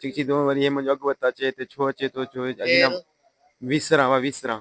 Check چي تون وري هي منهنجو اڳ وت اچي تي ڇو اچي ٿو ڇو اڄ نه ويسران وا ويسران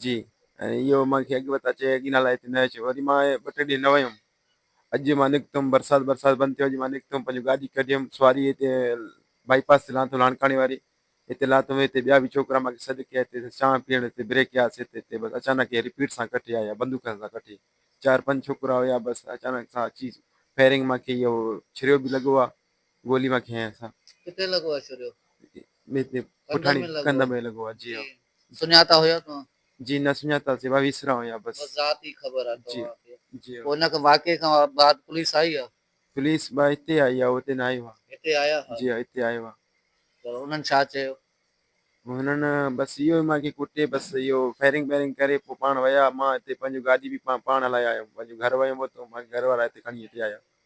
جي ۽ اهو مان کي اڳ وت اچي اڳ نه لاء تي نه اچي وري مان ٻه ٽي ڏينهن نه ويم اڄ مان نڪتم برسات برسات بند ٿيو اڄ مان نڪتم پنهنجو گاڏي ڪڍيم سواري هتي بائي پاس تي لانٿو لاڻڪاڻي واري هتي لاتم هتي ٻيا به ڇوڪرا مان کي سڏ ڪيا هتي چانهه پيئڻ هتي بريڪ يا سي تي بس اچانڪ هي رپيٽ سان ڪٺي آيا بندوقن سان ڪٺي چار پنج ڇوڪرا هيا بس اچانڪ سان اچي فيرنگ مان کي اهو ڇريو به لڳو آ گولي مان کنهن سا. ڪٿي لڳو آ شوريو. پٺاڻي ڪنڌ ۾ لڳو آ جي. سڃاتا هيا توهان. جي نه سڃاتا سي وسرا هيا بس. بس ذات ئي خبر آ توهان کي. جي پوء ان واقعي کان بعد پوليس آئي آ. پوليس با هتي آئي آ هتي نه آئي هئا. هتي آيا هئا. جي هتي آئي هئا. پر انهن ڇا چيو. انهن بس اهو ئي مان کي ڪٽي بس اهو فائرنگ بائرنگ ڪري پوء پاڻ ويا مان هتي پنهنجو گاڏي به پاڻ هلائي آيم پنهنجو گهر ويم هتو مان کي گهر وارا هتي کڻي هتي آيا.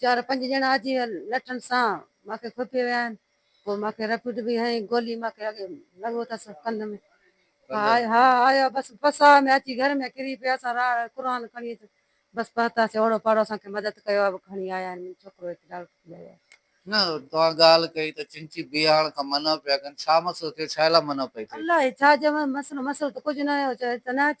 چار پنج ڄڻا اچي لٺن سان مان کي کوپي ويا آهن پوء مان کي رپيٽ به هنئي گولي مان کي اڳي لڳو اٿس ڪنڌ ۾ ها آيو بس پساهه ۾ اچي گهر ۾ ڪري پيا اسان راڙ قرآن کڻي اچ بس پهتاسين اوڙو پاڙو اسان کي مدد ڪيو اهو کڻي آيا آهن منهنجو ڇوڪرو هتي ڊاڪٽر ٿي آيو آهي. نه توهان ڳالهه ڪئي ته چنچي بيهاڻ کان منع پيا ڪن ڇا مسئلو ٿيو ڇا لاء منع پئي ٿئي. الله اي ڇا چئون مسئلو مسئلو ته ڪجهه ناهي هو چيو هتي نه اچ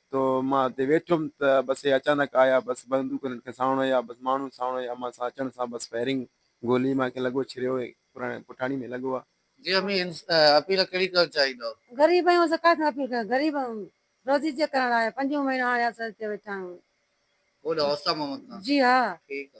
تو مان اتي ويٺم ته بس هي اچانڪ آيا بس بندوق هنن کي ساڻو هيا بس ماڻهو ساڻو هيا امان سان اچڻ سان بس فائرنگ گولي مان کي لڳو ڇريو هي پراڻي پٺاڻي ۾ لڳو آ. جي امين اپيل ڪهڙي ڪرڻ چاهيندؤ. غريب آهيون زڪوات ۾ اپيل ڪريو غريب آهيون روزي جي ڪرڻ آيا پنجون مهينو هاڻي اسان هتي ويٺا آهيون. اوڏ اوستا محمد خان. جي ها. ٺيڪ آ.